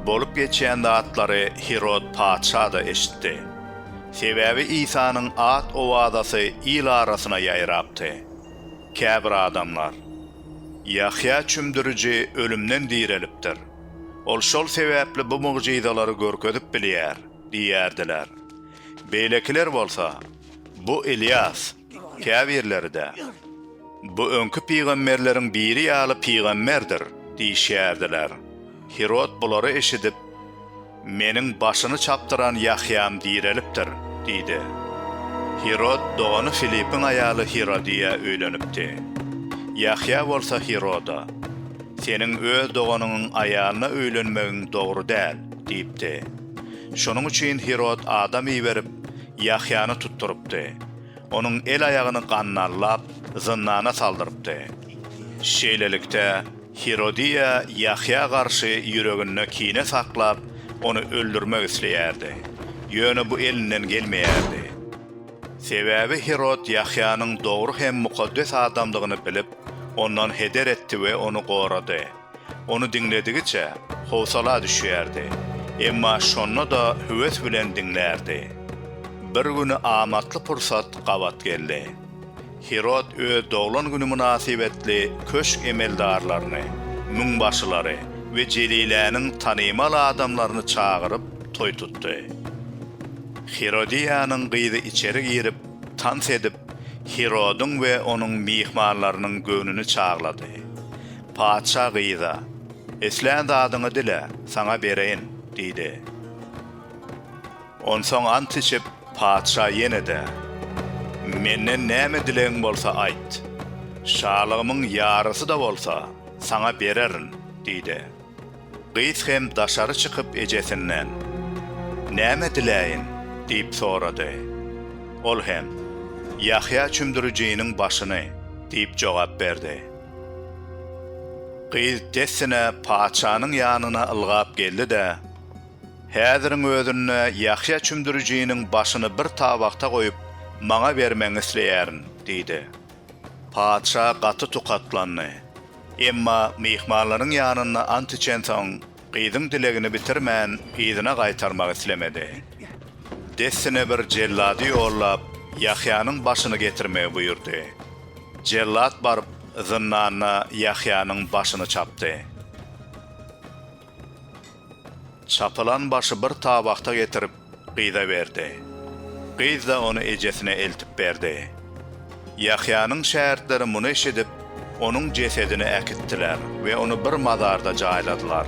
Bolup geçýän zatlary Hirod patyşa-da eşitdi. Sebäbi Isanyň at-owazasy il arasyna ýaýrapdy. Käbir adamlar, Ýahýa Çümdüriji ölümden direlipdir. Ol şol sebäpli bu mugjyzalary görkezip bilýär diýýärdiler. Beýlekiler bolsa, Bu Ylýas, Käbirleri-de, Bu öňki pygamberleriň biri ýaly pygamberdir diýişýärdiler. Hirod bulary eşidip, Meniň başyny çapdyran Ýahýam direlipdir diýdi. Hirod dogany Filipiň aýaly Hirodiýa öýlenipdi. Ýahýa bolsa Hiroda, Seniň öz doganyňyň aýalyna öýlenmegiň dogry däl diýipdi. Şonuň üçin Hirod adam iberip, Ýahýany tutdurypdy. Onuň el-aýagyny gannallap, zyndana saldyrypdy. Şeýlelikde, Hirodiýa Ýahýa garşy ýüreginde kine saklap, ony öldürmek isleýärdi. Ýöne bu elinden gelmeýärdi. Sebäbi Hirod Ýahýanyň dogry hem mukaddes adamdygyny bilip, ondan heder etdi we ony gorady. Ony diňledigiçe, howsala düşýärdi. Emma şonda-da höwes bilen diňlärdi. Bir güni amatly pursat gabat geldi. Hirod öz doglan güni mynasybetli köşk emeldarlaryny, müňbaşylary we Jeliläniň tanymal adamlaryny çagyryp, toý tutdy. Hirodiýanyň gyzy içeri girip, tans edip, Hirodyň we onuň myhmanlarynyň göwnüni çaglady. Patyşa gyza, Islän zadyňy dile, saňa bereýin, diýdi. Onsoň ant içip, patyşa ýene-de, Menden näme dilegiň bolsa aýt, şalygymyň ýarysy-da bolsa, saňa bererin, diýdi. Gyz hem daşary çykyp ejesinden, Näme diläýin? diýip sorady. Ol hem, Ýahýa Çümdürijiniň başyny diýip jogap berdi. Gyz dessine patyşanyň ýanyna ylgap geldi-de, Häziriň özünde Ýahýa Çümdürijiniň başyny bir tabakda goýup, maňa bermegiňi isleýärin diýdi. Patyşa gaty tukatlandy. Emma myhmanlaryň ýanynda ant içensoň, gyzyň dilegini bitirmän, yzyna gaýtarmak islemedi. Dessine bir jellady ýollap, Ýahýanyň başyny getirmegi buýurdy. Jellat baryp, zyndanda Ýahýanyň başyny çapdy. Çapylan başy bir tabakda getirip, gyza berdi. Gyz-da ony ejesine eltip berdi. Ýahýanyň şägirtleri muny eşidip, onuň jesedini äkitdiler we ony bir mazarda jaýladylar.